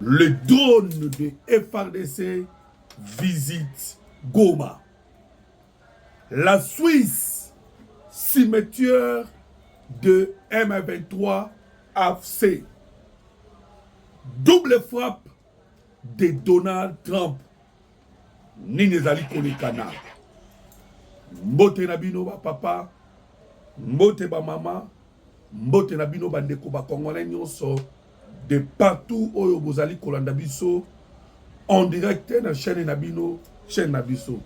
Le drone de FRDC visite Goma. La Suisse, cimetière de M23 AFC. Double frappe de Donald Trump. Nini ezali kolekana mbote na bino bapapa mbote bamama Mbote na bino bandeko ba congolais nyonso de partout oyo bozali kolanda biso en direct na chaîne na bino chaîne na biso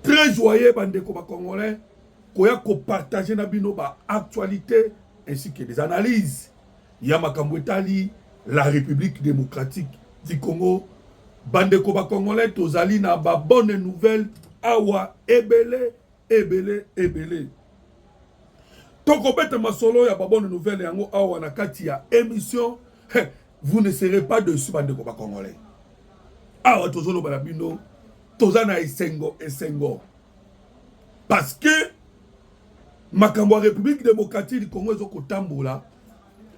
très joyeux bandeko ba congolais koya kopartage na bino ba actualité ainsi que des analyses ya makambo etali la république démocratique du congo bandeko ba congolais tozali na ba bonne nouvelle awa ebele ebele ebele tokobeta masolo ya babone nouvelle yango awa na kati ya émission hey, vous ne serez pas dessus bandeko bacongolais awa tozoloba na bino toza na esengo esengo parce que makambo ya république démocratique du congo ezokotambola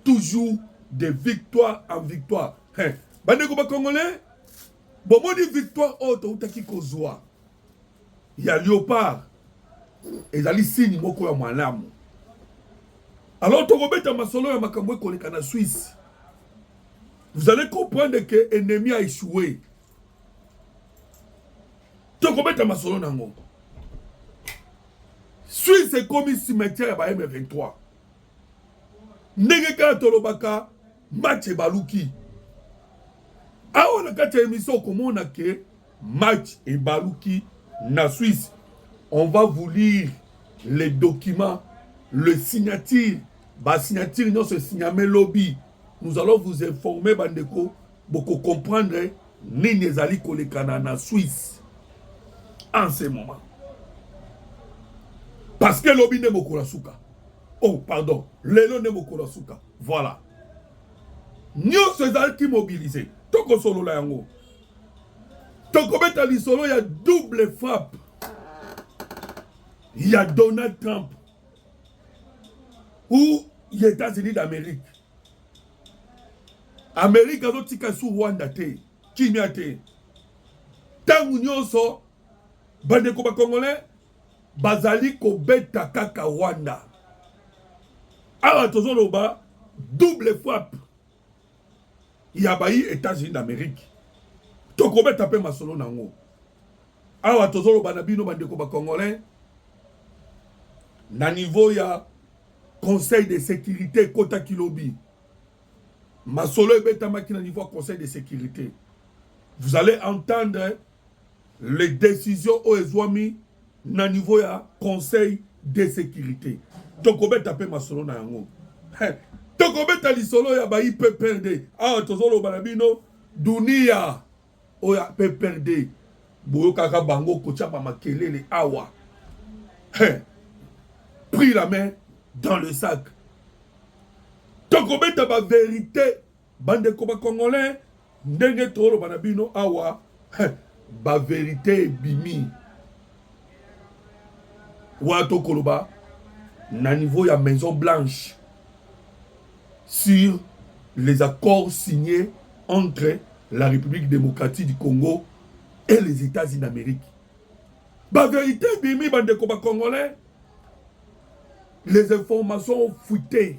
toujours de victoire en victoire hey, bandeko bacongolais bomoni victoire oyo toutaki kozwa ya leopard ezali signe moko ya malamu alors tokobeta masolo ya makambo ekoleka na swisse vous allez comprendre que ennemi a échoué tokobeta masolo na yango swisse ekomi cimetière ya ba m23 ndenge kaka tolobaka match ebaluki awa na kati ya emission okomona ke match ebaluki na Suisse on va vous lire les documents le signature ba signature nyonso esigname lobi nous allons vous informer bandeko boko comprendre nini ezali kolekana na Suisse en ce moment parce que lobi nde mokolo ya suka oh pardon lelo nde mokolo ya suka Voilà. Nyonso ezalaki mobiliser. Tokosolola yango. Tokobeta lisolo ya double frappe ya Donald Trump ou ya États-Unis d'Amérique. Amérique azotika su Rwanda te, kimia te. Ntango nyonso bandeko bakongolais bazali kobeta kaka Rwanda. Awa tozoloba double frappe ya bayi Etats-Unis d'Amerique, tokobeta mpe masolo na yango. Awa tozoloba na bino bandeko ba Congolais, na niveau ya Conseil de sécurité ekotaki lobi, masolo ebetamaki na niveau ya Conseil de sécurité. Vous allez entendre Les decisions oyo ezwami na niveau ya conseil de securite tokobeta mpe masolo na yango tokobeta lisolo ya ba ipprd awa tozoloba na bino dunia oyo ya pprd boyokaka bango kotya bamakelele awa hey, pris la main dans le sac tokobeta baverité Bandeko ba congolais ndenge toloba na bino awa ba verite ebimi wa tokoloba na niveau ya maison blanche sur les accords signés entre la république démocratique du congo et les états-unis d'amérique ba verite ebimi bandeko ba congolais les informations fuitées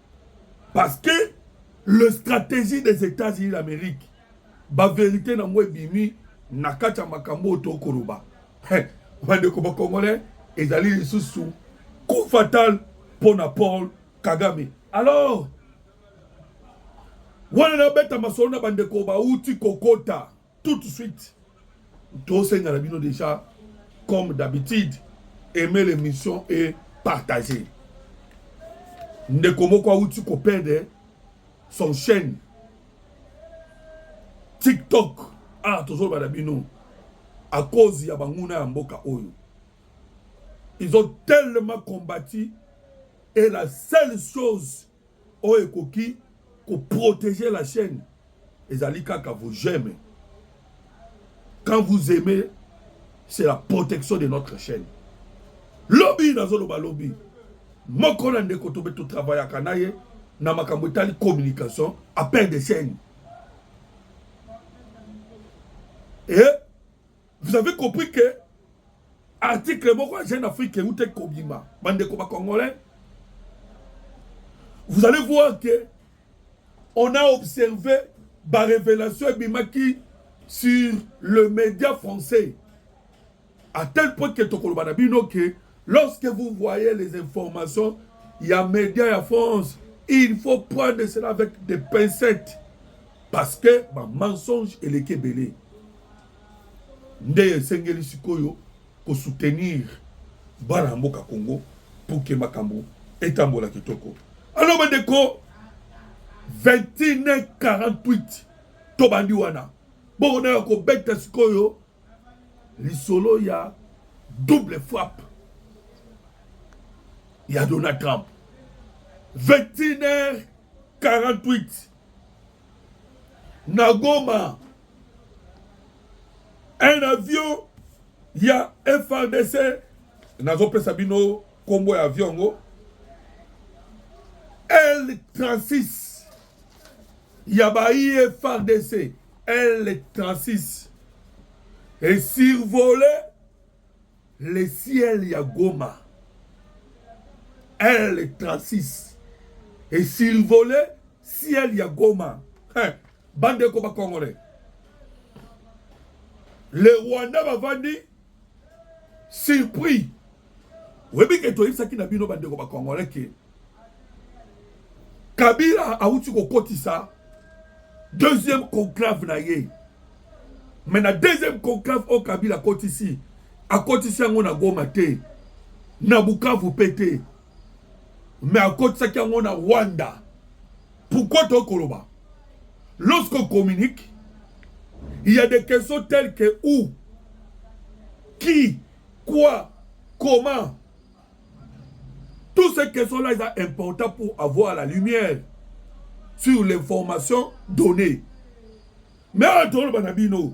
Parce que le stratégie des États-Unis d'Amérique, ba vérité na ngo ebimi na kati ya makambo oyo tokoloba. Bandeko ba Congolais, ezali lisusu coup fatal mpo na Paul Kagame. Alors, wana nabeta masolo na bandeko bauti kokota tout de suite tosenga na bino déjà comme d'habitude aimer l'émission et partager ndeko moko awuti kopede son chaîne tiktok awa ah, tozoloba na bino à cause ya banguna ya mboka oyo ils ont tellement combattu et la seule chose oyo ekoki ko protéger la chaîne ezali kaka vous j'aime quand vous aimez c'est la protection de notre chaîne lobi nazoloba lobi moko na ndeko tobe totravayaka na ye na makambo etali communication appel de chaîne e Vous avez compris que article moko ya Jeune Afrique euta ekobima bandeko ba congolais. Vous allez voir que on a observé ba révélation ebimaki sur le média français à tel point que tokoloba na bino que lorsque vous voyez les informations ya média ya France il faut prendre cela avec des pincettes parce que ba mensonge eleki ebele nde esengeli sikoyo kosoutenir bana ya mboka congo pour ke makambo etambola kitoko alo bandeko 2148 tobandi wana bokona ya kobeta sikoyo lisolo ya double frappe ya donald trump 21 h 48 na goma un avion ya FRDC nazopesa bino kombo ya avion yango L36 ya baye FRDC L36 et survoler le ciel ya Goma L36 et survoler ciel ya Goma eh, bandeko ba congolais le Rwanda bavandi surpris oyebi ke toyebisaki na bino bandeko ba congolais ke Kabila awuti kokotisa deuxième conclave na ye me na deuxième conclave oyo Kabila akotisi akotisi yango na Goma te na Bukavu mpe te mais akotisaki yango na rwanda pourquoi tokoki koloba lorsqu'on communique il y a des questions telles que où qui quoi comment toutes ces questions là eza important pour avoir la lumière sur l'information donnée mais oyo toloba na bino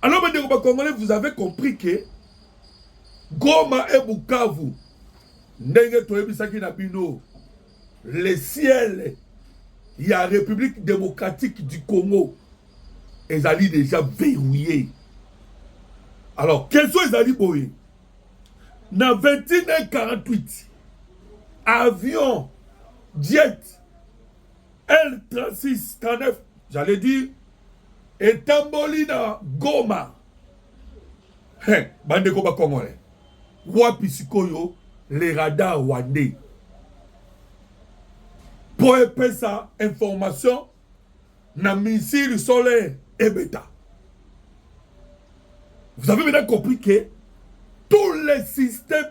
Alors, bandeko ba Congolais, vous avez compris que Goma et Bukavu, ndenge toyebisaki na bino, le ciel ya République démocratique du Congo ezali déjà verrouillé. Alors, question ezali boye. Na 21h48, avion, jet, L36 39 j'allais dire etamboli na Goma hey, bandeko bakongole wapi sikoyo le radar rwandais mpo epesa information na missile solaire ebeta vous avez maintenant compris que tous les systèmes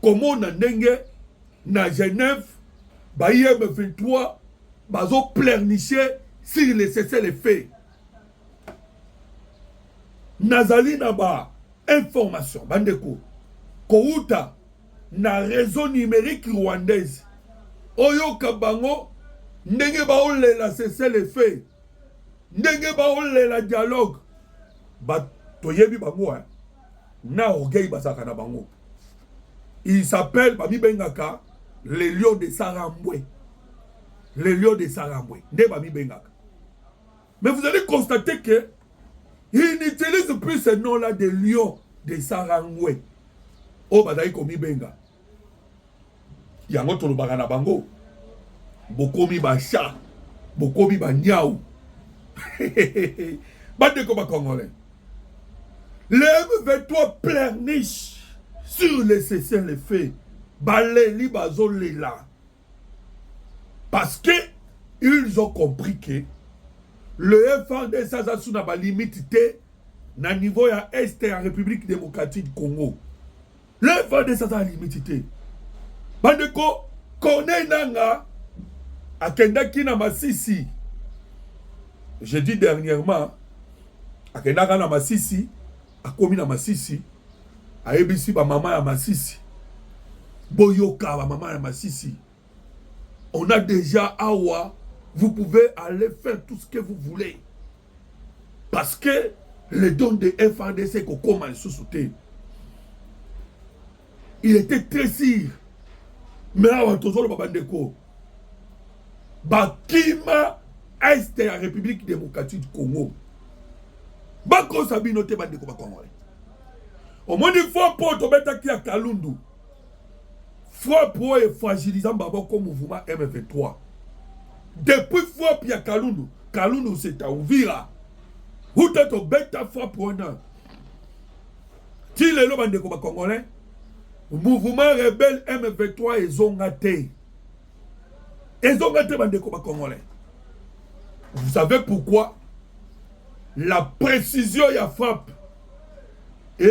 komona ndenge na Genève ba IM23 bazo pleurnicher sur le cessez-le-feu nazali na ba information bandeko kowuta na réseau numérique rwandaise oyoka bango ndenge baolela cessez le feu ndenge baolela dialogue ba toyebi bango hein? na orgueil bazalaka na bango il s'appelle bamibengaka le lion de sarambwe le lion de sarambwe nde bamibengaka mais vous allez constater que il n'utilise plus ce nom là de lion de sarangwe oyo oh, bazali komibenga yango tolobaka na bango bokomi basha bokomi banyau bandeko bacongolais le m23 plerniche sur le cessez le fait baleli bazolela parce que ils ont compris que le FRDC aza sous na balimite te na niveau ya est ya république démocratique congo Le fadesa aza limiti te bandeko. Corneille Nanga akendaki na Masisi je dis dernièrement akendaka na Masisi akomi na Masisi ayebisi bamama ya Masisi boyoka bamama ya Masisi On a déjà awa, vous pouvez aller faire tout ce que vous voulez. Parce que le don de FRDC kokoma lisusu te. Il était très sûr. Mais awa tozoloba bandeko. Bakima est ya République démocratique du Congo. Bakosa bino te bandeko bakongole. Omoni fo po tobetaki ya Kalundu. Frappe oyo efragilisa maboko mouvement M23. Depuis frappe ya Kalundu, Kalundu c'est à Uvira. Uta tobeta frappe wana. Ti lelo bandeko ba Congolais, mouvement rebelle M23 ezonga te. Ezonga te bandeko ba Congolais. Vous savez pourquoi? La précision ya frappe et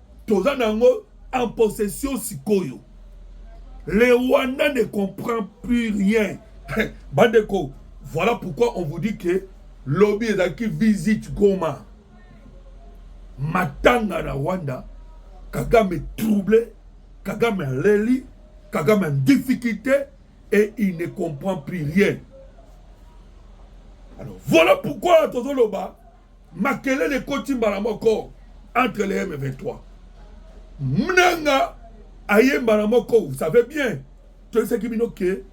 toza na yango en possession sikoyo le rwanda ne comprend plus rien bandeko voilà pourquoi on vous dit que lobi ezalaki visite goma matanga na rwanda kagame trouble kagame aleli kagame en difficulté et il ne comprend plus rien alors voilà pourquoi tozoloba makelele ekoti mbala moko entre le m23 mnanga aye mbala moko vous savez bien toyesaki bino ke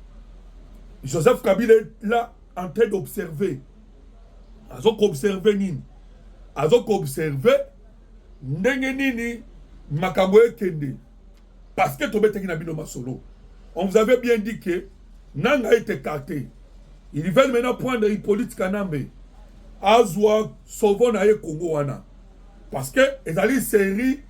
joseph kabila la en train d'observer azo koobserve nini azo koobserve ndenge nini makambo ekende Parce que tobetaki na bino masolo. On vous avait bien dit que Nanga est écarté. Ils veulent maintenant prendre Hippolyte Kanambe. Azwa sovo na ye Congo wana. Parce que ezali série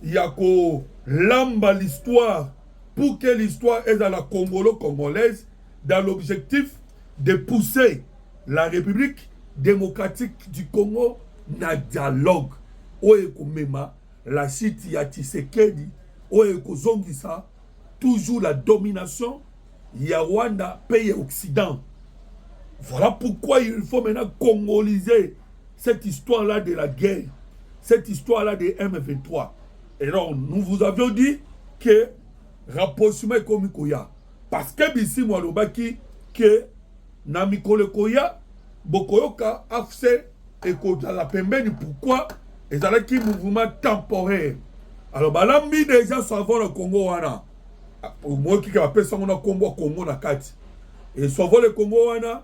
ya ko lamba l'histoire pour que l'histoire est à la congolo-congolaise dans l'objectif de pousser la République démocratique du Congo na dialogue oyo ekomema La chute ya Tshisekedi oyo ekozongisa toujours la domination ya Rwanda mpe ya Occident. Voilà pourquoi il faut maintenant congoliser cette histoire-là de la guerre, cette histoire-là de M23. Et donc, nous vous avions dit que rapprochement est comme Koya. Parce que Bissimou Alobaki que Na mikolo ekoya bokoyoka AFC ekozala pembeni pourquoi ezalaki mouvement temporaire alors balambi deja savon na Congo wana moyoki ka bapesa yango na nkombo ya Congo na kati e savon le Congo wana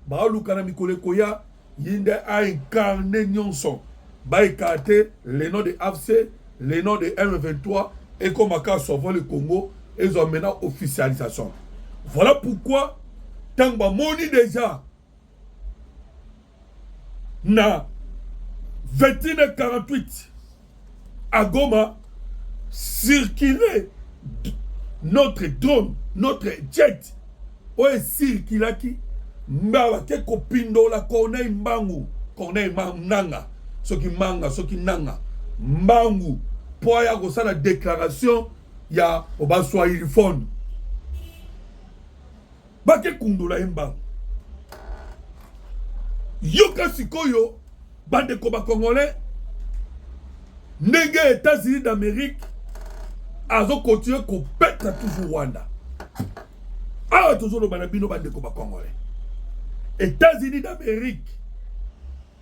baluka na mikolo ekoya ye nde a incarne nyonso ba ecarte le nom de afc le nom de m23 ekoma kaka sauvons le congo ezwa maintenant officialisation voilà pourquoi ntango bamoni deja na 21 48 à Goma circuler notre drone, notre jet oyo esirkilaki mbawa te kopindola corneille mbangu corneille nanga soki manga soki nanga mbangu mpo aya kosala déclaration ya baswahilifone bake kundola ye mbangu yoka sikoyo bandeko bacongolais ndenge états-unis d'amérique azokontinue kopetra toujours rwanda awa tozoloba na bino bandeko bacongolais états-unis d'amérique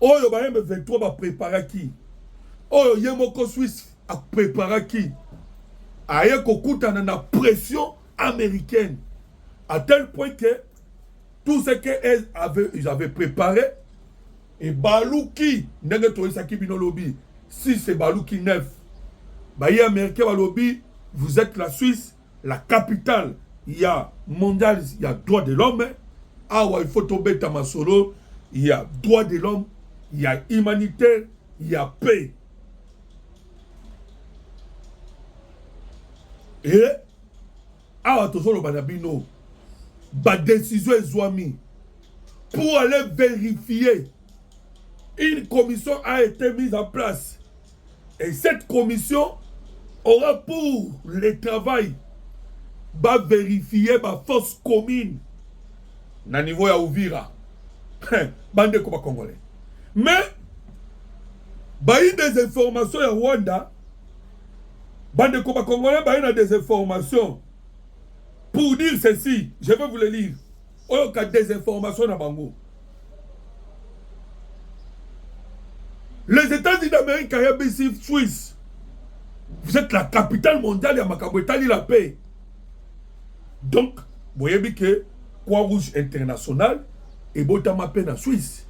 oyo ba M23 ba preparaki, oyo ye moko Suisse a preparaki, aye kokutana na pression américaine à tel point que tout ce que elles avaient, ils avaient préparé ebaluki ndenge toyesaki bino lobi si c'est baluki neuf baye américain balobi vous êtes la suisse la capitale ya mondiales ya droit de l'homme awa il faut tobeta masolo ya droit de l'homme ya humanitaire ya paix e awa tozoloba na bino badesizio ezwami pour aller vérifier une commission a été mise en place Et cette commission aura pour le travail ba vérifier ba force commune na niveau ya Uvira bande ko ba congolais mais ba eu des informations ya Rwanda bande ko ba congolais ba eu na des informations pour dire ceci je vais vous le lire oyo ka desinformation na bango les États-Unis d'Amérique ya bisi Suisse vous êtes la capitale mondiale ya makambo etali la paix donc boyebi ke Croix Rouge internationale ebotama mpe na Suisse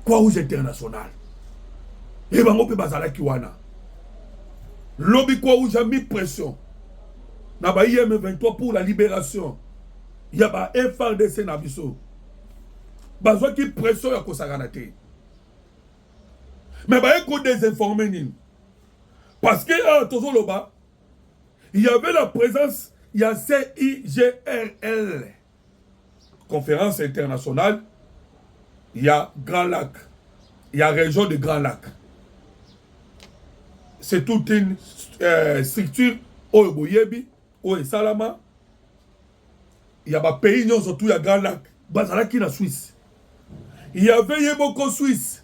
Croix Rouge internationale ye bango mpe bazalaki wana lobi Croix Rouge ami pression na ba IM23 pour la libération ya ba FRDC na biso bazwaki pression ya kosakana te me baye kodesinforme nini parce que awa tozoloba il y avait la présence ya CIGRL conférence internationale ya Grand Lac ya région de Grand Lac c'est toute une euh, structure oyo boyebi oyo esalama ya ba pays nyonso tout ya Grand Lac bazalaki na Suisse il y avait ye moko Suisse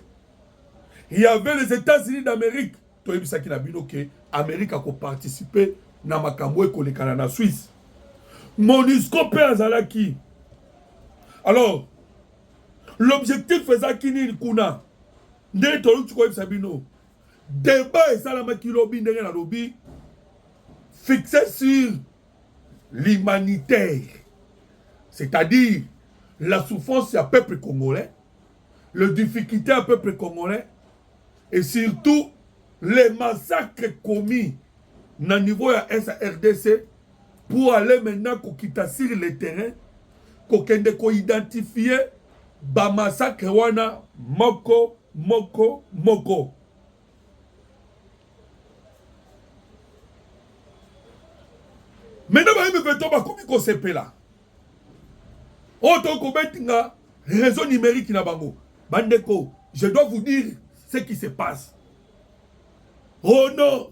il y avait les États-Unis d'Amérique toyebisaki na bino ke Amérique akoparticipe na makambo ekolekana na Suisse MONUSCO mpe azalaki alors l'objectif ezalaki nini kuna nde toluki koyebisa bino Debat esalamaki lobi ndenge na lobi fixé sur l'humanitaire, c'est-à-dire la souffrance du peuple congolais, le difficulté du peuple congolais, et surtout les massacres commis au niveau de SRDC pour aller maintenant quitter sur le terrain, pour identifier ba massacre wana moko moko moko. Maintenant ba M23 bakomi kosepela oyo tokoki kobetinga réseau numérique na bango bandeko je dois vous dire ce qui se passe oh non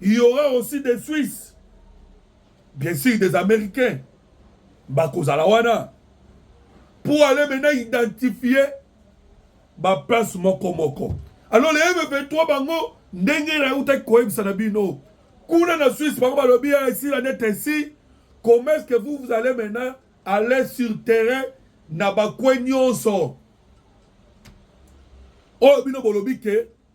Il y aura aussi des Suisses, bien sûr des Américains, bakozala wana pour aller maintenant identifier ba place moko moko. Alors les M23 bango ndenge na utaki koyebisa na bino kuna na Suisse bango balobi ici la net ainsi comment est-ce que vous vous allez maintenant aller sur terrain na bakwe nyonso oyo bino bolobi ke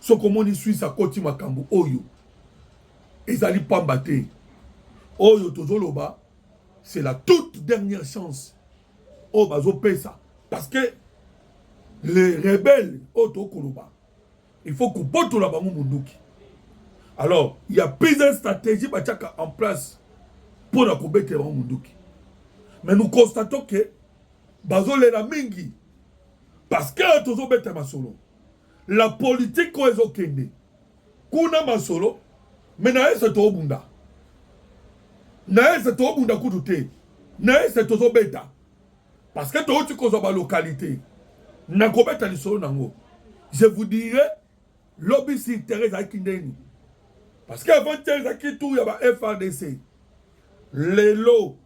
soki omoni swisse akoti makambo oyo ezali pamba te oyo tozoloba c'est la toute dernière chance oyo bazopesa parce que les rebelles oyo tokoloba il faut kobotola bango monduki alors il y a plusieurs stratégies batiaka en place mpo na kobetela bango monduki mais nous constatons que bazolela mingi parce que tozobeta masolo la politique oyo ezokende kuna masolo me na ese tobunda na ese tobunda kutu te na ese tozobeta parce que touti kozwa balokalité nakobeta lisolo nango je vous dirai lobi si terre ezalaki ndeni parce que avant terre ezalaki tour ya ba frdc lelo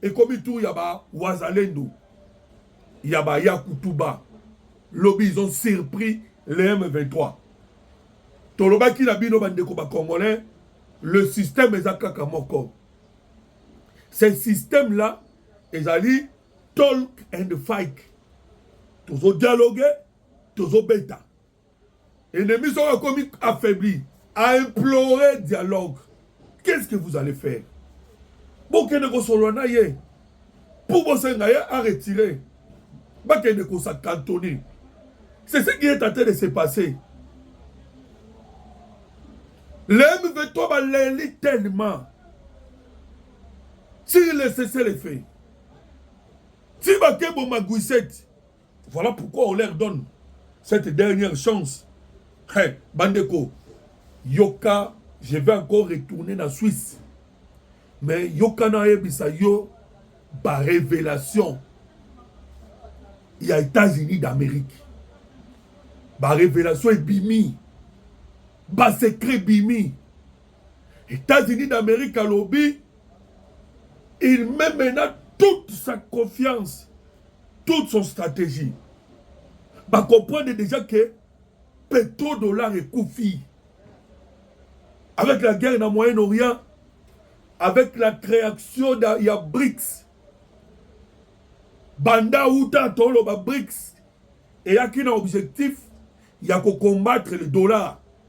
ekomi tour ya ba wazalendo ya ba yakutuba lobi ils ont surpris le M23 tolobaki na bino bandeko ba congolais le système eza kaka moko ce système là ezali talk and fight tozodialoge tozobeta Ennemi soko akomi affaibli, a implorer dialogue. Qu'est-ce que vous allez faire? Bokende kosolola na ye pour bosenga ye a retirer. Bakende kosa cantonner. C'est ce qui est en train de se passer. Les M23 baleli tellement. S'il laisse le fait. Si bakebo maguisette. Voilà pourquoi on leur donne cette dernière chance. Hey, Bandeko, Yoka, je vais encore retourner na Suisse. Mais Yoka na yebisa yo ba révélation il y a États-Unis d'Amérique. Ba révélation ebimi. Ba secret bimi. Etats-Unis d'Amerique alobi il met maintenant toute sa confiance, toute son stratégie. Ba comprendre déjà que pétrodollar ekufi. Avec la guerre dans le Moyen-Orient, avec la création de ya BRICS, banda uta toloba BRICS eyaki na objectif ya ko combattre le dollar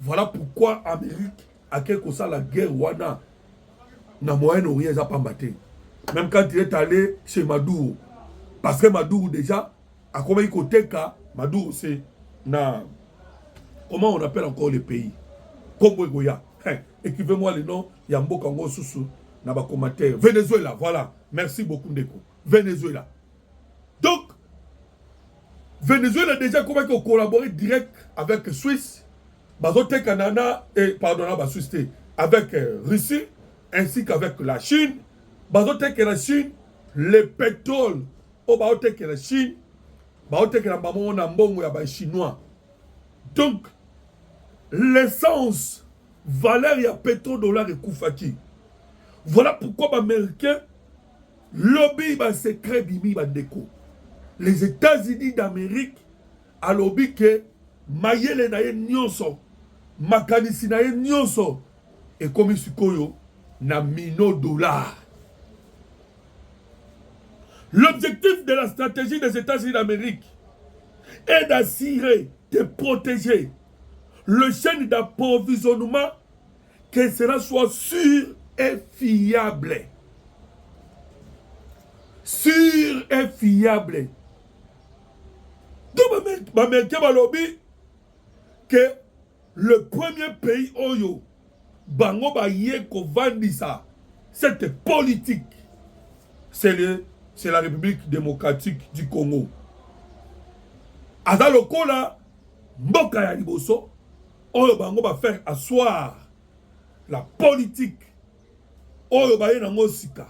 Voilà pourquoi Amérique ake kosala guerre wana na Moyen-Orient eza pamba te. Même quand il est allé chez Maduro parce que Maduro déjà akomaki koteka Maduro c'est na comment on appelle encore le pays Congo ekoya hein, écrivez-moi le nom ya mboka ngo susu na ba commentaire Venezuela voilà merci beaucoup ndeko Venezuela Donc, Venezuela déjà comment ko collaborer direct avec Suisse, bazote Canada et eh, pardon na ba Suisse te, avec euh, Russie ainsi qu'avec la Chine, bazote que la Chine le pétrole au bazote que la Chine, bazote que la maman na mbongo ya ba chinois. Donc l'essence valeur ya pétrodollar ekufaki. Voilà pourquoi ba américains Lobi ba secret bimi ba ndeko. Les Etats-Unis d'Amerique alobi que mayele na ye nionso makanisi na ye nionso ekomi sikoyo na mino dollar. L'objectif de la stratégie des États-Unis d'Amérique est d'assurer, de protéger le chaîne d'approvisionnement que cela soit sûr et fiable sûr et fiable donc bamericain balobi que le premier pays oyo bango baye kovandisa cette politique c'est le c'est la république démocratique du congo aza lokola mboka ya liboso oyo bango ba faire asseoir la politique oyo baye nango sika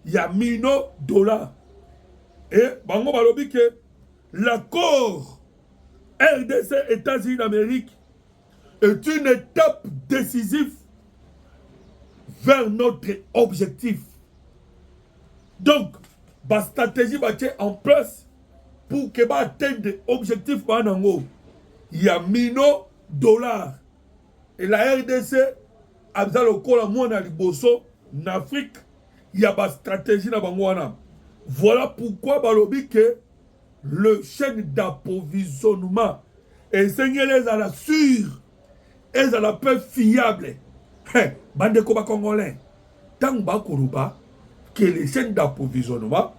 ya mino dollar e bango balobi ke l'accord rdc états-unis d'amérique est une étape décisive vers notre objectif donc bastratégie batie en place pour que ba atteindre objectif ba nango ya mino dollar et la RDC aza lokola mwana liboso na Afrique ya ba stratégie na bango wana voilà pourquoi balobi que le chaîne d'approvisionnement esengeli ezala sur ezala mpe fiable hey, bandeko bacongolais ntango bakoloba que les chaînes d'approvisionnement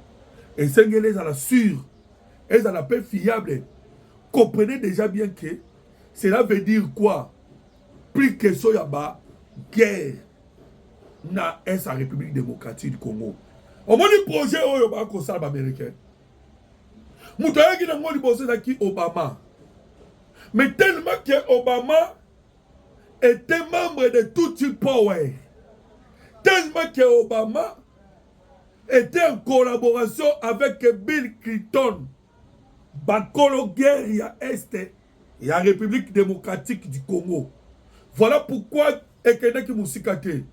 esengeli ezala sur ezala mpe fiable comprenez déjà bien que cela veut dire quoi plus question ya ba guerre na est ya république démocratique du congo omoni projet oyo bakosala baaméricain moto ayaki na yango liboso ezalaki obama mais tellement que obama était membre de tutsi power tellement que obama était en collaboration avec bill clinton bakolo guerre ya este ya république démocratique du congo voilà pourquoi ekendaki mosika te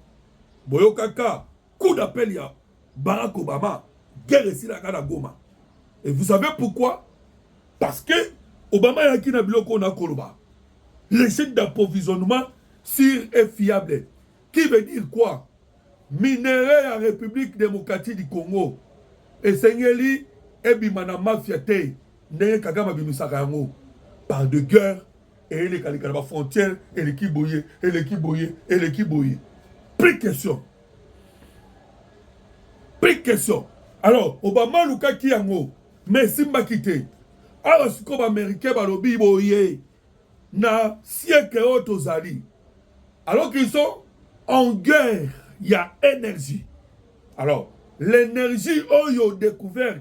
boyokaka coup d'appel ya Barack Obama guerre esilaka na Goma et vous savez pourquoi parce que Obama ayaki na biloko na koloba les chaînes d'approvisionnement sur et fiable qui veut dire quoi minerais ya République démocratique du Congo esengeli ebima na mafia te ndenge Kagame abimisaka yango par de guerre eyelekaleka na bafrontière eleki boye eleki boye eleki boye plus question Big question. Alors, Obama alukaki yango, mais esimbaki te. Awa sikoyo baamericain balobi boye na siècle oyo tozali alors qu'ils sont en guerre ya énergie alors l'énergie oyo découverte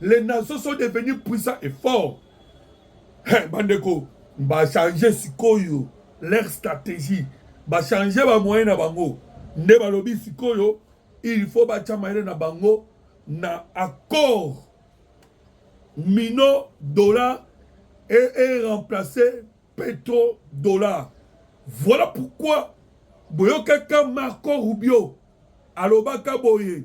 les nations sont devenues puissants et forts hey, eh, bandeko bachange sikoyo leur stratégie bachange bamoyen na bango nde balobi sikoyo il faut batya mayele na bango na accord mino dollar et, et remplacer petro dollar voilà pourquoi boyokaka marco rubio alobaka boye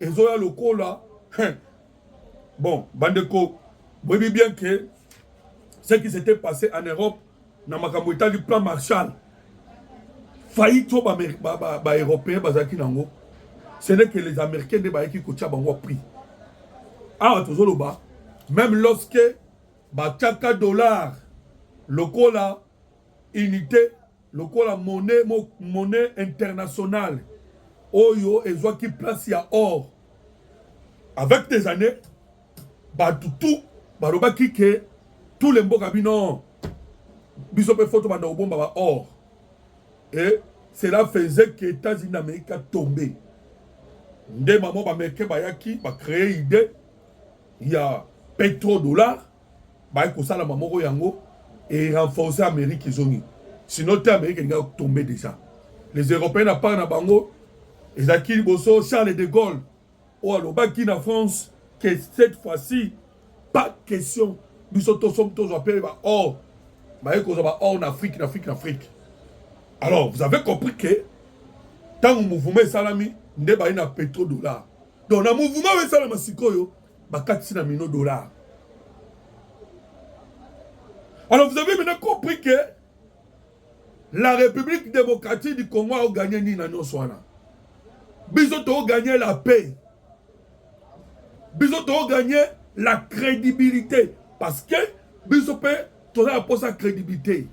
ezoya lokola hein. bon bandeko boyebi bien que ce qui s'était passé en europe na makambo etali plan marshal faillite oyo baeuropéen bazalaki nango ce n'est que les américains nde bayaki kotya bango prix awa tozoloba même lorsque batyaka dollar lokola unité lokola monnaie mo, monnaie internationale oyo ezwaki place ya or avec des années bato tout balobaki ke tous les mboka bino biso mpe foto banda kobomba ba or et cela faisait que états-unis d'amérique a tombé nde mamo bamericain bayaki bacreye idée ya petrodollar baye kosala bamoko yango e renforcer amerique ezongi sinon te amerique elinga tombe déjà les européens na part na bango ezalaki liboso charles de gaulle oyo alobaki na france que cette fois-ci pas question biso tosomi tozwa mpe baor baye kozwa baor na afrique na afrique na afrique alors vous avez compris que ntango mouvement esalami nde baye na petro dollar donc na mouvement oyo esalama sikoyo bakatisi na mino dollar alors vous avez maintenant compris que la république démocratique du congo aoganye nini na nyonso wana biso tooganye la paix biso tooganye la crédibilité parce que biso mpe toza na mposa crédibilité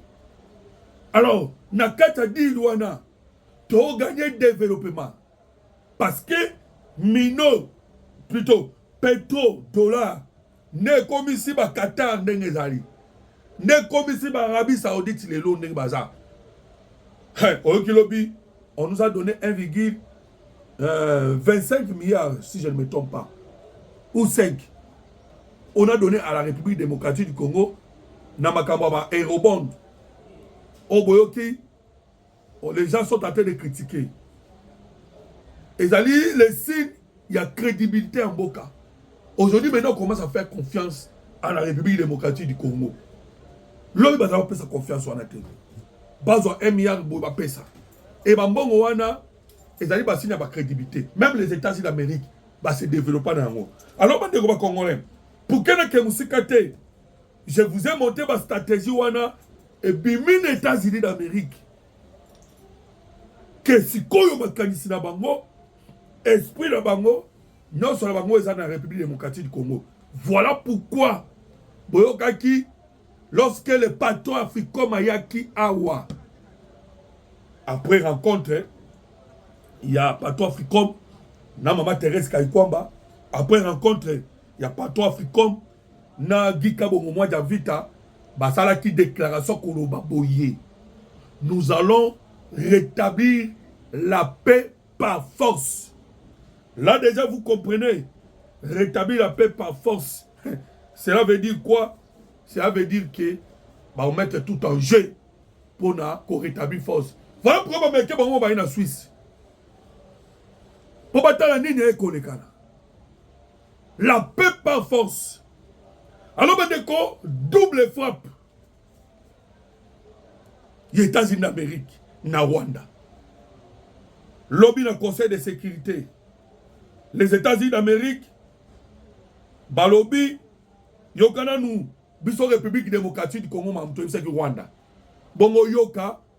alors na kati ya dil wana tooganye développement parce que mino plutôt petro dollar nde ekomisi ba qatar ndenge ezali nde ekomisi ba arabie saoudite lelo ndenge baza hey, oyoki lobi on nous a donné 1 virgule euh, 25 milliards si je ne me trompe pas ou 5 on a donné à la république démocratique du congo na makambo ya ba aérobond oyo boyoki Oh, les gens sont en train de critiquer. Ezali les signes ya crédibilité en boka. Aujourd'hui maintenant on commence à faire confiance à la République démocratique du Congo. Lobi bazala pesa confiance wana te. Bazwa MR boy ba pesa. Et ba mbongo wana ezali ba signe ba crédibilité. Même les États-Unis d'Amérique ba se développer na yango. Alors bande ko ba congolais. Pour que na ke musika te Je vous ai montré ba stratégie wana ebimi na États-Unis d'Amérique. Ke sikoyo makanisi na bango, esprit na bango, nyonso na bango eza na République démocratique du Congo. Voilà pourquoi boyokaki lorsque le patron Africom ayaki awa après rencontre ya patron Africom na mama Thérèse Kayikwamba après rencontre ya patron Africom na Guy Kabongo mwa Javita basalaki declaration koloba boye nous allons rétablir la paix par force là déjà vous comprenez rétablir la paix par force cela veut dire quoi cela veut dire que bakomete tout en jeu mpona korétablir force voilà pourquoi bameke bango baye na swisse mpo batala nini ekolekana La paix par force. Alors bandeko double frappe ya États-Unis d'Amérique na Rwanda. Lobby na Conseil de sécurité. Les États-Unis d'Amérique balobi yokana nu biso République démocratique du Congo mamuto ebisaki Rwanda. Bongo yoka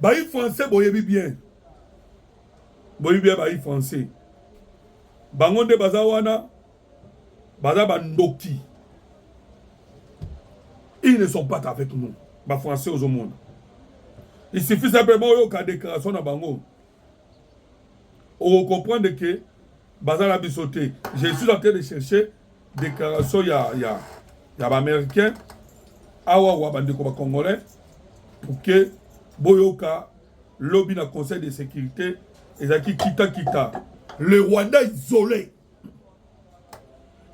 Bayi français boyebi bien. Boyebi bien bayi français. Bango nde baza wana baza ba ndoki. Ils ne sont pas avec nous. Ba français ozomona. Il suffit simplement oyoka déclaration na bango. oko comprendre que baza na biso te je suis en train de chercher déclaration ya ya ya ba américain awa wa bandeko ba congolais pour que boyoka lobi na conseil de sécurité ezalaki kita kita le rwanda isolé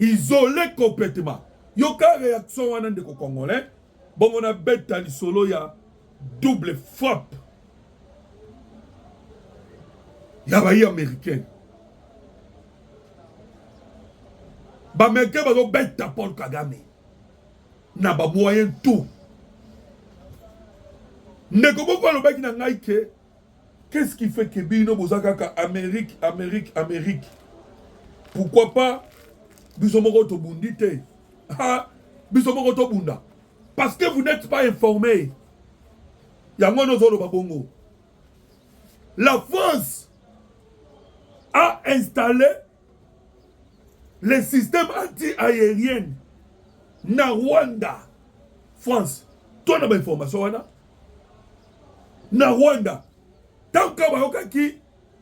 isole complètement yoka réaction wana ndeko congolais bongo na beta lisolo ya double frappe ya bayi américain baaméricain bazobeta paul kagame na bamoyen tout ndeko moko alobaki na ngai ke Qu'est-ce qui fait que bino boza kaka Amérique, Amérique, Amérique? Pourquoi pas biso moko tobundi te? Ah, biso moko tobunda. Parce que vous n'êtes pas informé. Yango nozoloba bongo. La France a installé les systèmes anti-aériens na Rwanda, France. Toi, na ba information wana. na Rwanda tant que bayokaki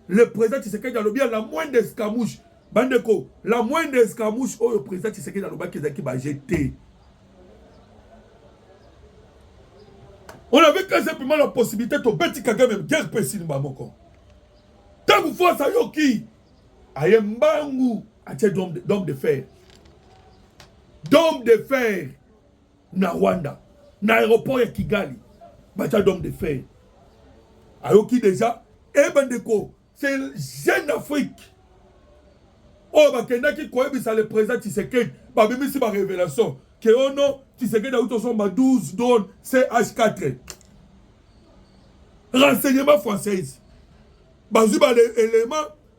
le président Tshisekedi alobi la moindre escamouche bandeko la moindre escamouche oyo président Tshisekedi alobaki ezalaki baje te on avait quand simplement la possibilité tobeti kagame guerre mpe esilima moko ntango force ayoki aye mbangu atie dome de fer dome de fer na Rwanda na aéroport ya Kigali baza d'homme de fer ayoki deja e eh, bandeko c'est jeune afrique oyo oh, bakendaki koyebisa le président tshisekedi babimisi barévélation ke o oh non tshisekedi auti osomba 12 drone ch4 renseignement française bazwi baélément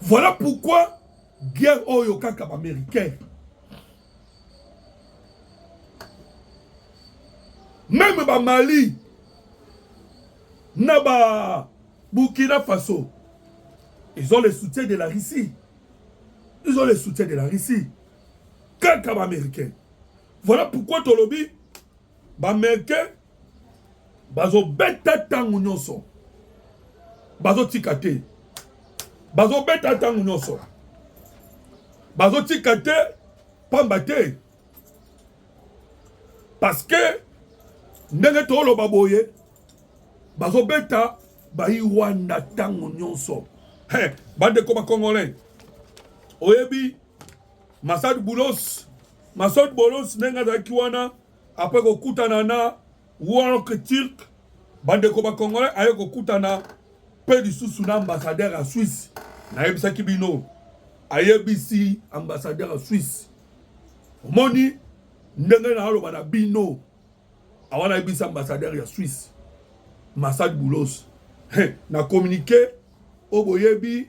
Voilà pourquoi guerre oyo kaka ba américain. Même ba Mali na ba Burkina Faso ils ont le soutien de la Russie. Ils ont le soutien de la Russie. Kaka ba américain. Voilà pourquoi Tolobi Bamericain bazobeta ntango nyonso, bazotika te, bazobeta ntango nyonso, bazotika te, pamba te parce que ndenge toloba boye bazobeta bayi Rwanda ntango nyonso. Hey, bandeko bakongole oyebi Masad Boulos, Masad Boulos ndenge azalaki wana après kokutana na Work Turk bandeko ba congolais aye kokutana mpe lisusu na ambassadeur ya Suisse nayebisaki bino ayebisi ambassadeur ya Suisse omoni ndenge naaloba na bino awa nayebisi ambassadeur ya Suisse Masad Boulos na communiqué oyo boyebi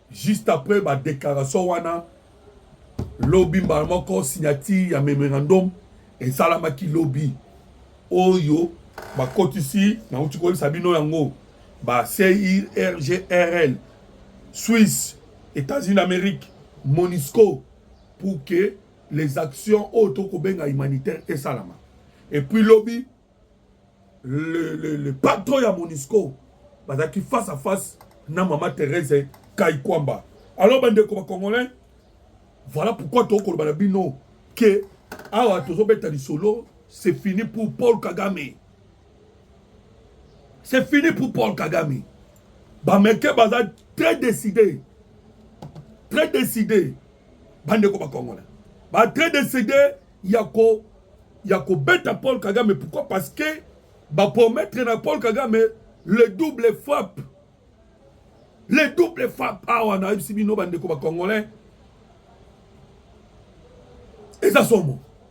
Juste après ba declaration wana lobi mbala moko signature ya memorandum esalamaki lobi oyo bakotisi nauti koyebisa bino yango ba CIRGRL Suisse États-Unis d'Amérique Monisco pour que les actions oyo tokobenga humanitaire esalama et puis lobi le, le, le patron ya monisco bazalaki face à face na mama therese kaikwamba alors bandeko bacongolais voilà pourquoi tokoloba na bino ke awa tozobeta lisolo c'est fini pour paul kagame c'est fini pour paul kagame bameke baza très décidé très décidé bandeko bacongolais ba très décidé ya ko ya kobeta Paul Kagame pourquoi parce que ba promettre na Paul Kagame le double frappe le double frappe awa na yebisi bino bandeko ba congolais eza somo